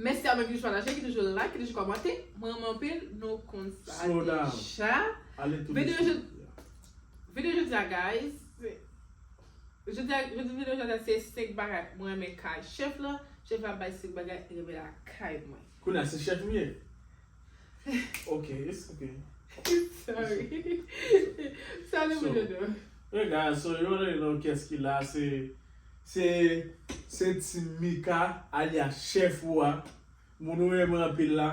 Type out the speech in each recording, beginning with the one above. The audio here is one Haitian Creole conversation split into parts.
Mèsi a mwen ki toujou pataje, ki toujou like, ki toujou kòmante. Mwen renmen w anpil, nou konn sa deja. Videyo jodi a guys, jodi videyo jodi a se 5 bagay mwen renmen kay chèf la, chèf la bay 5 bagay li renmen lakay mwen. Kounye a se chèf ou ye? Ok, it's ok. Sorry. Salut So- Mojo Dou. Hey guys, so you already know kès ki la se se se Team Mika alias chèf ou a, moun ou renmen anpil la.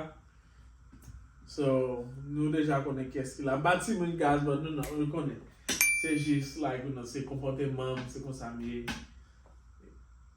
So, nou deja konnen kès ki la. M pa timoun guys, but nou nan, nou konnen. Se jis like, you know, se konpòteman m, se konsa m ye.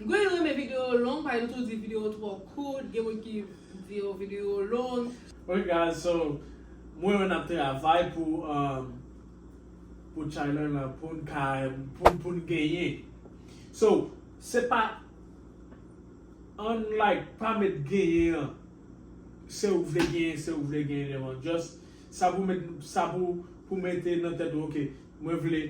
M konnen nou renmen video yo long pagen nou toujou di video yo twò kout gen moun ki di yo video yo long. Ok guys so m wè yo nap travay pou pou channel lan poun ka poun genyen so se pa unlike pa met genyen an se ou vle genyen se ou vle genyen lèman just sa pou sa pou mete nan tèt ou ok Mwen vle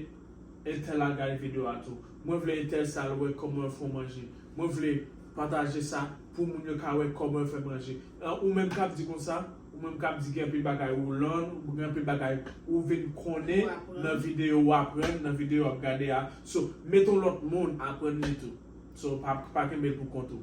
entèl al gade video a tou. Mwen vle entèl sa al wè kòman yo fè yon manje. Mwen vle pataje sa pou moun yo ka wè kòman yo fè manje. An ou menm kap di konsa, ou menm kap di gen anpil bagay ou learn, ou gen anpil bagay ou vin konnen nan video ou aprann, nan video wap gade a. So, mete yon lòt moun aprann li tou. So, pa kenbe l pou kont ou.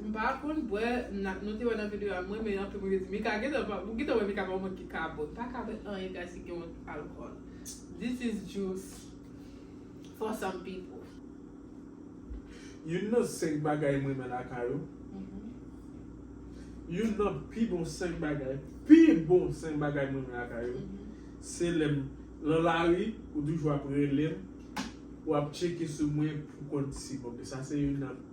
M pa konn bwè nan nou te wè nan video a m renmen anpil mwen te di Mika gentan pa ou gentan wè Mika pa konn ki kabòt m paka bwè anyen guys ki gen yon alcool this is just for some people. Youn nan 5 bagay m renmen lakay ou Youn nan pi bon 5 bagay pi bon 5 bagay m renmen lakay ou se lè m lan lari ou toujou ap rele m ou ap tcheke sou mwen pou konn si m ok sa se youn nan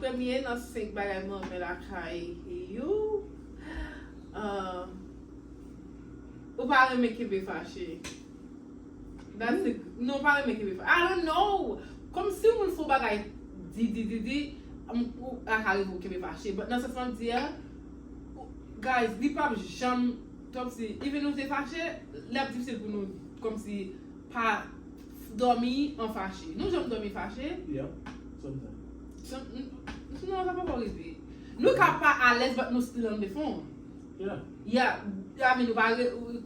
Premye nan senk bagay mwen renmen lakay you, ou pa renmen kenbe fache. Non, ou pa renmen kenbe fache. I don't know! Kòm si yon moun fè yon bagay di di di di, ou ka rive ou kenbe fache. But nan sans mwen di a, guys, li pap janm. Kòmsi even nou te fache lap difisil pou nou kòmsi pa dòmi an fache nou janm dòmi fache Yep sometimes N non sa poko rive Nou ka pa alèz but nou still an defon Yeah I mean nou pa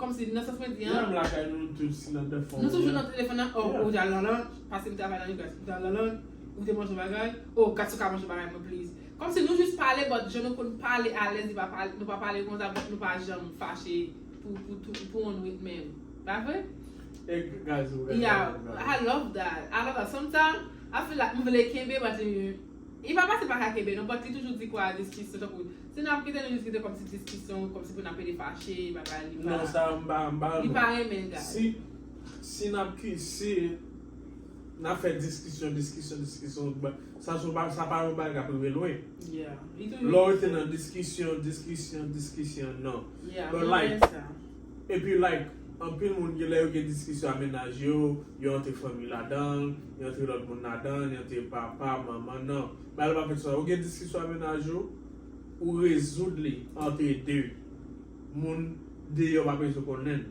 kòmsi nan sans mwen di an Nou toujou nan telefòn an oh ou al nan lanch paske m travay nan Unipress ou te al nan lanch ou te manje yon bagay oh Gatchouka manje bagay mwen please Komsi nou jus pale but jan nou konn pale alez li pa pale nou pa pale konsa but nou pa janm fache pou pou tou pou on nwit menm pa vre? E gaz ou gaz Yeah ou gaz I love that I love that sometime I feel like m vle kenbe but li li pa pase pa ka kenbe non but li toujou di kwa diskisyon tankou si nap kite nou jis kite komsi diskisyon komsi pou nap rete fache bagay li pa Nan sa m pa m pa li pa renmen gaz si si nap ki si. Nap fè diskisyon, diskisyon, diskisyon, sa son pa, sa pa yon bagay kap rive lwen. Yeah, li toujou. Lè w rete nan diskisyon, diskisyon, diskisyon, nan. Yeah, mwen renmen sa. Epi like, anpil moun gen lè yo gen diskisyon a mennaj yo, yo antre fanmi ladan l, yo antre lòt moun ladan l, yo antre papa, manman, nan. Bagay la pa fèt konsa. Ou gen diskisyon a mennaj ou, ou rezoud li antre 2. Moun deyò pa bezwen konnen l.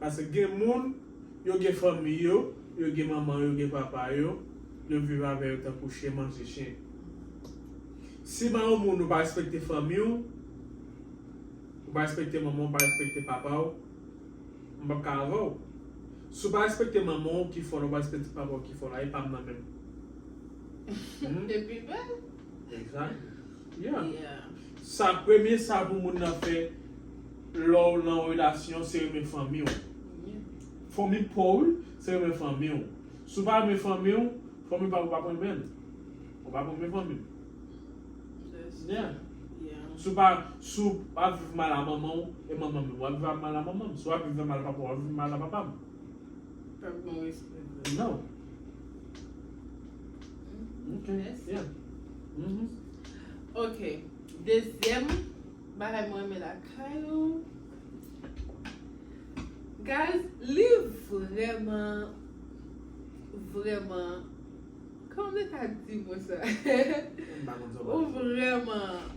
Paske gen moun, yo gen fanmi yo, yo gen manman yo, yo gen papa yo, yo viv avè yo tankou chyen manje chyen. Si man yon moun ou pa respekte fanmi w, ou pa respekte manman w, ou pa respekte papa w, m pap ka avè w. Si w pa respekte manman w ki fò la, ou pa respekte papa w ki fò la, e pa m nan menm. Humm. Depi bèl. Exactly. Yeah. Yeah. Sa premye sa pou moun nan fè lè'w nan yon relasyon se renmen fanmi'w. Fanmi paw se renmen fanmi'w. Si w pa renmen fanmi'w, fanmi paw pap renmen'l. Ou pap renmen fanmi'w. Si w pa, si w pa viv mal a manman'w e manman'm menm wap viv mal a manman'm. Si wap viv mal a papa'w wap viv mal a papa'm. Pèp gon respè vre. No. Ok, yeah. Uhmm. Ok, dezyèm bagay mwen renmen lakay ou. Guys, li vrèman, vrèman, kòman mwen ta di mo sa? Ou vrèman.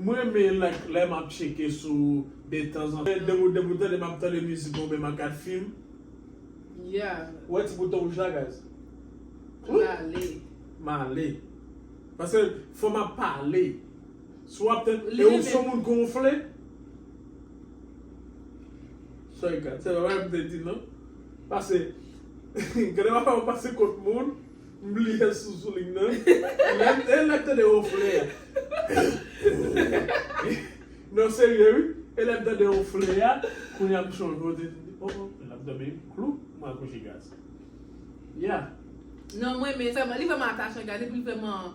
M renmen like lè map tcheke sou de tanzantan. Mwen depi depi ou tande map tande mizik ou byen map gad film. Yeah. Ou wè ti bouton rouj la guys. Ooh. Male. Male. Paske fò map pale. Si wap tande Li renmen. e ou son moun gonfle. Sorry guys se pa bagay m te di non. Pase gade m ap fè yon pase kont moun. M bliye sou souling nan. E lèm tande wonfle a. Non serye wi. E lèm tande wonfle a. Kounye a m chonje w te di oh oh lap domi klou m al kouche gaz. Yeah. Non m renmen li vreman atache gade epil vreman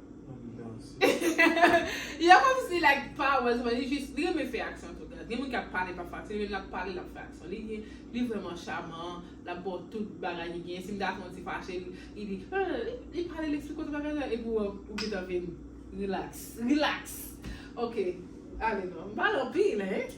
Yo komsi like pa wèl li jis li renmen fè aksyon tout gen moun ki ap pale pa fè aksyon li menm lap pale lap fè aksyon li gen li vrèman chaman lap baw tout bagay li gen si bgay fè yon ti fache li di li pale li esplike w tout bagay epi ou wè ou gentan vin relax relax ok ale non m pale anpil hein.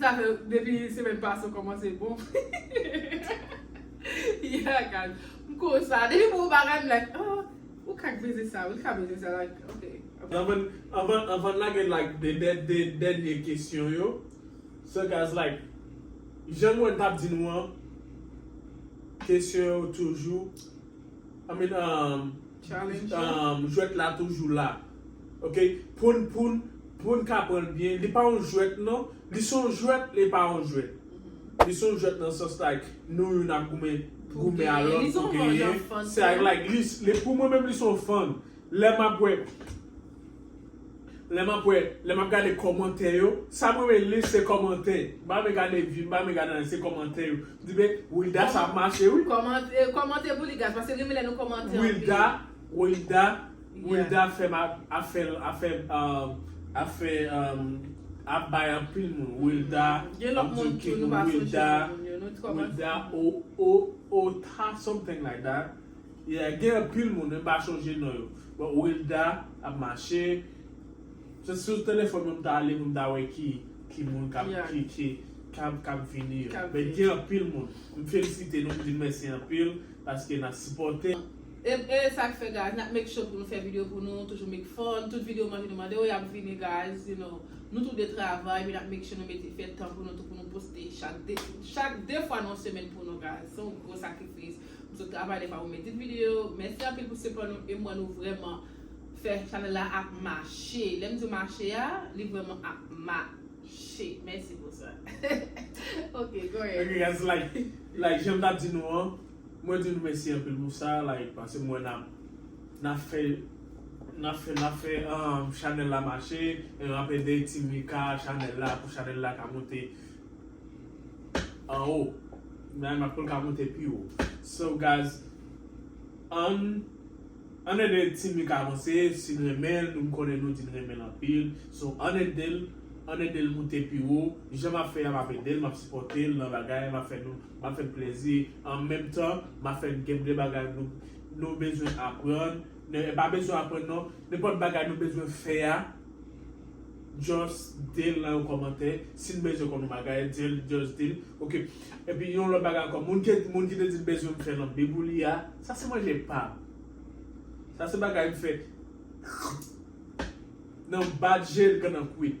Sa fè depi semèn pase ou kòmanse bon. Yagan m konsa depi m wè yon bagay m like ah ou ka k beze sa wi ou ka beze sa like ok. Anvan n lage like 2 dènye kesyon yo so guys like jan m wè n t ap di nou an kesyon yo toujou I mean jwèt la toujou la. ok poun poun poun ka pranl byen li pa yon jwèt nan li son jwèt li pa yon jwèt li son jwèt nan sans like nou youn ap goumen goumen a lòt pou genyen se ak like li pou mwen menm li son fann lè map wè lè map wè lè map gade kòmantè yo sam renmen li se kòmantè m pa renmen gade view m pa renmen gade anyen se kòmantè yo m di men Wildah sa ap mache wi kòmante pou li guys paske m renmen lè nou kòmante anpil. Wilda Wilda fèm afèl afè afè ap bay anpil moun Wilda ap di ok moun Wilda Wilda Otha something like that yeah gen anpil moun men m pa chonje non yo but Wilda ap mache se sou telefòn mwen m ta ale pou m ta wè ki ki moun kap ki ki kap kap vini yo men gen anpil moun m felisite nou m di mèsi anpil paske nap sipòte. Eb ee sak fè guys nap make sure pou nou fè video pou nou toujou make fun tout video manje nou mande yo yap vini guys you know nou tou 2 travay men nap make sure nou mete fè tan pou nou tou pou nou poste chak 2 chak 2 fwa nan semèn pou nou guys se yon gwo sakrifis m sot travay dèfwa pou m edit video mèsi anpil pou sipò nou e m wè nou vrèman fè chanèl la ap mache lè m di mache a li vrèman ap mache mèsi pou sa ok go ahead ok guys like like janm tap di nou an. Mwen di nou mesi anpil pou sa like paske m wè nap nap fè nap fè nap fè chanel la mache e nap ede ti mika chanel la pou chanel la ka moute anwo nan nan poul ka moute pi wo so guys ann ann ede ti mika avanse si n renmen l m konnen nou di n renmen l anpil so ann ede l ann ede l moute pi wo jan map fè a map ede l map sipòte l nan bagay map fè nou Map fè n plezi an menm tan map fè n gen de bagay nou bezwen aprann, e pa bezwen aprann non, nenpòt bagay nou bezwen fè a just dil nan yon kòmantè, si n bezwen konn yon bagay dil just dil ok, epi yon lòt bagay ankò moun ki te di l bezwen m fè lanbi pou li a sa se manje pam, sa se bagay m fè nan bat je l kan nan kwit.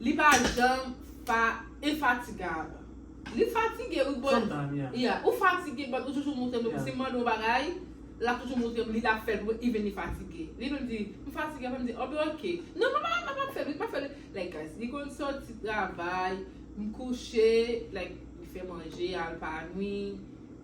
Li pa janm fa infatigable. Li fatige wi but yeah ou fatige but ou toujou moutrem depi sim mande yon bagay lap toujou moutrem li lap fèl pou mwen even li fatige li menm di m fatige aprè m di oh ok non m pa m pap fèl wi m pap fèl like guys li konn sòti travay m kouche like li fè manje al pa nwi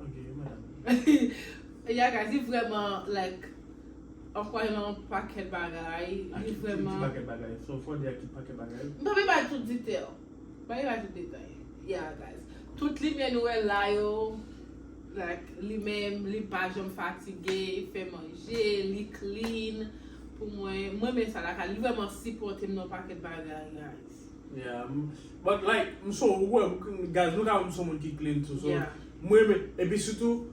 Ok madame. Ya guys li vrèman like ankwaj nan yon pakèt bagay li vrèman. Aki pakèt bagay so fò di aki pakèt bagay. M pa vle bay tout detail m pa vle bay tout detay ya guys tout limyè nou wè la yo like li menm li pa janm fatige li fè manje li clean pou mwen m renmen sa lakay li li vrèman sipòte m nan yon pakèt bagay guys. Yeah but like m son ou wè guys nou ka wè m son moun ki clean tou so m renmen epi sitou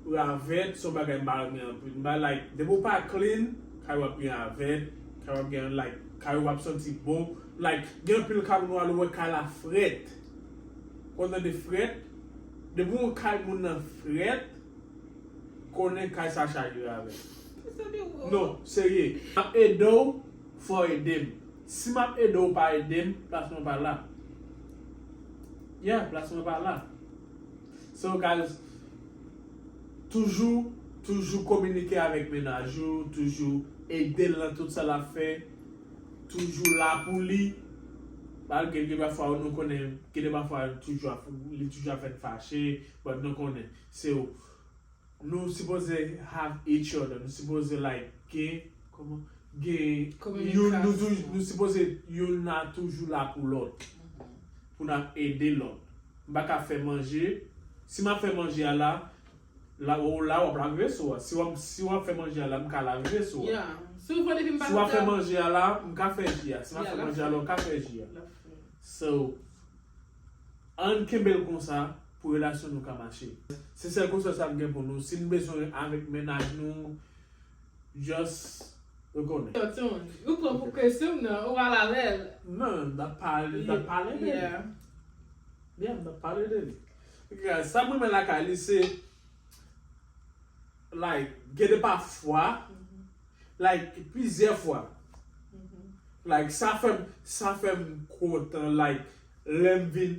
ravèt son bagay m pa renmen anpil m pa like depi w pa clean kay ou ap gen ravèt kay ou ap gen like kay ou pap santi bon like gen anpil kay moun wal wè kay la frèt ou tande frèt depi w wè kay moun nan frèt konnen kay sa chaje ravèt non serye map ede w. Fòw edem si map ede w pa edem plas mwen pa la yeah plas mwen pa la so guys toujou toujou kominike avèk mennaj ou toujou edel nan tout sa lap fè toujou la pou li malgre gen de fwa nou konnen gen de fwa li toujou ap fè n fache but nou konnen se w. Nou sipoze have each other, nou sipoze like gen, kòman, gen, nou sipoze youn la toujou la pou lòt, pou n ap ede lòt. M pa ka fè manje, si m ap fè manje a la, la ou la w ap lave veso a, si w ap fè manje a la m ka lave veso a, si w ap fè manje a la m ka fè ji a, si m ap fè manje a la ou ka fè ji a. So, ann kenbe l konsa. pou relasyon nou ka mache. Se sèl konsèy sa m gen pou nou, si n bezwen avèk mennaj nou just rekonnen. Yo tune. Ou pran pou kesyon m nan, ou al avè l. Non, m tap pale de li. Yeah. Yeah, m tap pale de li. Gad, sa m renmen lakay li se like gen de pafwa, like plizyè fwa. Like sa fè m, sa fè m kontan like lè m vin.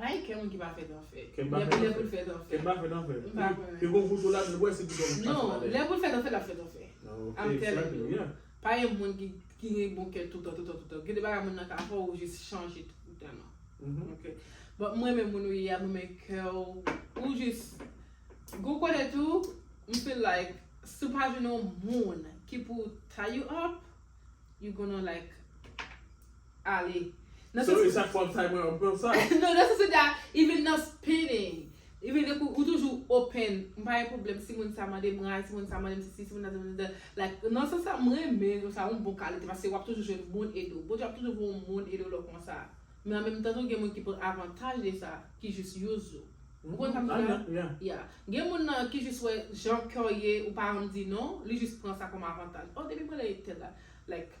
Bay kè moun ki pa fèt an fè. Kè m pa fèt an fè. Lè pou lè pou l fèt an fè. Kè m pa fèt an fè. M pa konnen. Ke gon foto la m wè se piton m k pa fèt an fè. Non, lè pou l fèt an fè l ap fèt an fè. Ok, sa vle di. I'm telling you. Pa gen moun ki gen bon kè toutan, toutan, toutan. Gen de bagay moun nan ka fè ou jis chanje toutan an. Ok. But m renmen moun ou ye a, m renmen kè w. Ou jis Gon kote tou, m feel like si w pa jwenn yon moun ki pou tie you up, you gonna like. ale. Nan sans. Sorry chak fwa m say mwen an pran sa. Non nan sans sa even nan spinning even nan kou ou toujou open m pa gen pwoblèm si moun sa mande m rad si moun sa mande m sesi si moun sa mande m sesa like nan sans sa m renmen nou sa yon bon kalite paske wap toujou jwenn moun ede w Bondye ap toujou voye yon moun ede w lè w konsa men an menm tan tou gen moun ki pran avantaj de sa ki jis use ou ou konprann sa m di la yeah gen moun nan ki jis wè jan kè w ye ou pa renmn di non li jis pran sa kòm avantaj oh depi m rele tèl la like.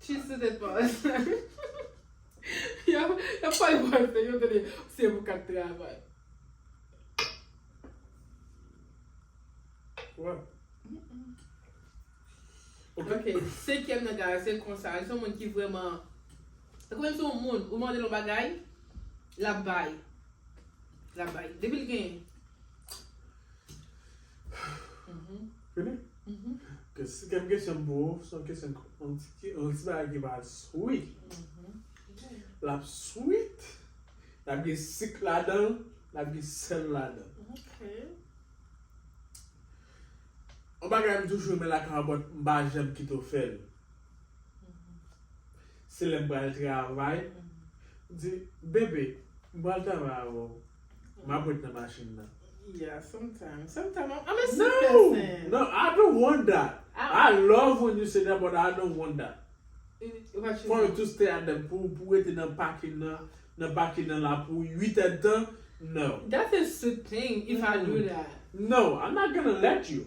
Cheese to the boss. Yap pale franse yo tande se pou kap travay. Ok, senkyèm nan guys se konsa li se yon moun ki vrèman se kòmsi se yon moun ou mande l yon bagay lap bay lap bay depi l gen Fini? Ok, si gen kesyon pou ou, son kesyon ki, yon ti ki, yon ti bagay ki pa sweet. L ap sweet, l ap gen sik ladan l, l ap gen sèl ladan l. Ok. Yon bagay m toujou renmen lakay yon bòt, m pa janm kite w fè l. Se lè m pral travay, m di, Bebe, m pral travay avè w. M ap ret nan machin nan. Yeah, sometimes. Sometimes I'm, I'm a sweet No! person. No, I don't want that. I I love when you say that, but I don't want that. What you For you want? to stay at the, pou w, pou w rete nan pakin nan, nan pakin nan la pou 8 èdtan, no. That's a sweet thing if I do that. No, I'm not gonna let you.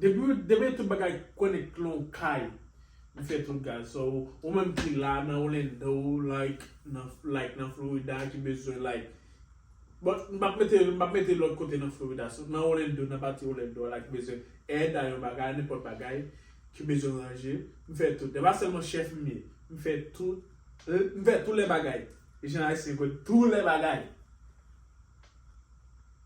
Depiw demen tout bagay connect lon kay li fè tout guys so ou menm ki la nan Orlando like nan like nan Florida ki bezwen like bon m pap mete m pap mete lòt kote nan Florida so nan Orlando nan pati Orlando a la ki bezwen èd a yon bagay nenpòt bagay ki bezwen ranje m fè tout e pa sèlman chèf m ye m fè tout m fè tou lè bagay jan ayisyen kwè tou lè bagay.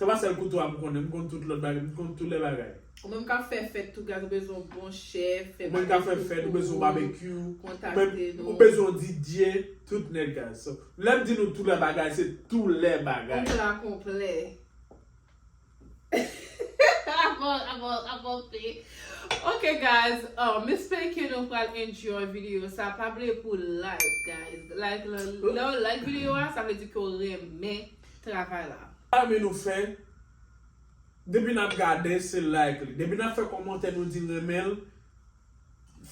Sa pa sèl kouto a m konnen, m konn tout lòt bagay, m konn tout lè bagay. Ou menm kap fè fèt tou gaz ou bezwen yon bon chèf fè babekyou pou ou kontakte nou. Ou bezwen yon didye tout nèt gaz. Lè m di nou tou lè bagay se tou lè bagay. Yon pla konplè. Ok gaz m espere ke nou pral enjoy video sa pa bliye pou like gaz. Lè w like video a sa vle di ke w renmen. travay la. Zanmi nou fè Depi nap gade se like li Depi nap fè kòmantè nou di renmen l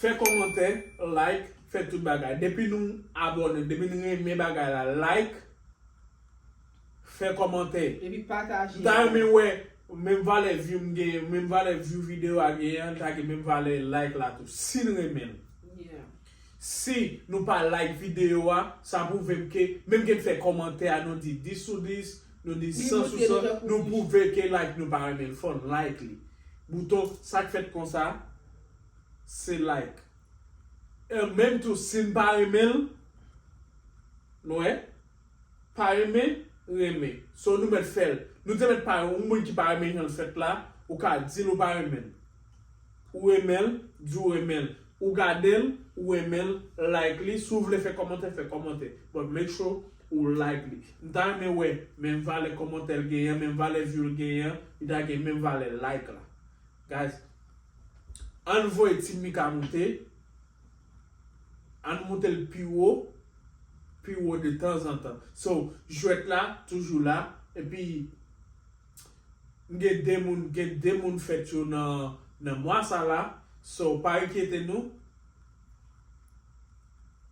fè kòmantè like fè tout bagay Depi nou abòne Depi nou renmen bagay la like fè kòmantè Epi pataje M ta renmen wè menm valè view m genyen menm valè view video a genyen li ta gen menm valè like la tou si n renmen l Si nou pa like video a, sa pwouvem ke, menm ke n fè kòmantè a nou di 10 sou 10, nou di 100 sou 100, nou pwouve ke like nou pa renmen l fò n like li. Bouton sa k fèt konsa se like. Menm tou si n pa renmen l, nou wè? Pa renmen, renmen. So nou mèt fèl. Nou te mèt pa renmen. Yon moun ki pa renmen janl fèt la, ou ka dil ou pa renmenl. Ou renmenl, di ou renmenl. Ou gadel, ou renmenl, like li. Si w vle fè kòmantè, fè kòmantè. But make sure ou like li. M ta renmen wè menm valè kòmantè l genyen an, menm valè view l genyen an, li ta gen menm valè like la. Guys, ann voye Team Mika moute, Ann moutel pi wo, pi wo de tanzantan. So, jwèt la toujou la, epi m gen 2 moun, gen 2 moun fèt yo nan nan mwa sa la, so pa enkyete nou.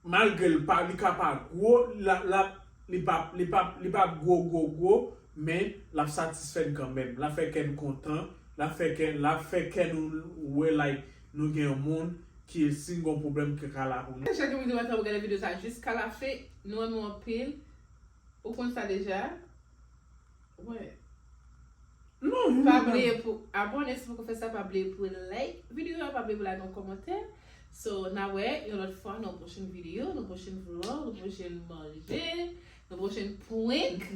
Malgre l pa li ka pa gwo, la la li pa li pa li pa gwo gwo gwo, men l ap satisfè n kanmenm, l ap fè kè n kontan, l ap fè kè l ap fè kè nou wè like. Nou gen yon moun ki si n gon pwoblèm ki ka la pou nou. Chak jou m di mwen ta pral gade video sa jiska la fin nou renmen w anpil ou konn sa deja wè pa bliye pou abone si poko fè sa pa bliye pou like video a pa bliye pou lage yon kòmantè so na wè yon lòt fwa nan yon pwochen video nan pwochen vlog nan pwochen manje nan pwochen prank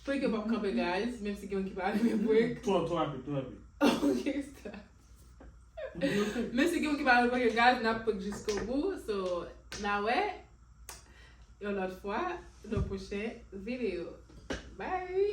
prank yo pap kanpe guys menm si gen moun ki pa renmen prank ok stop. Men si gen moun ki pa reponn yo gad nap pot jiskobou so na wè yon lòt fwa nan pwochen video bye.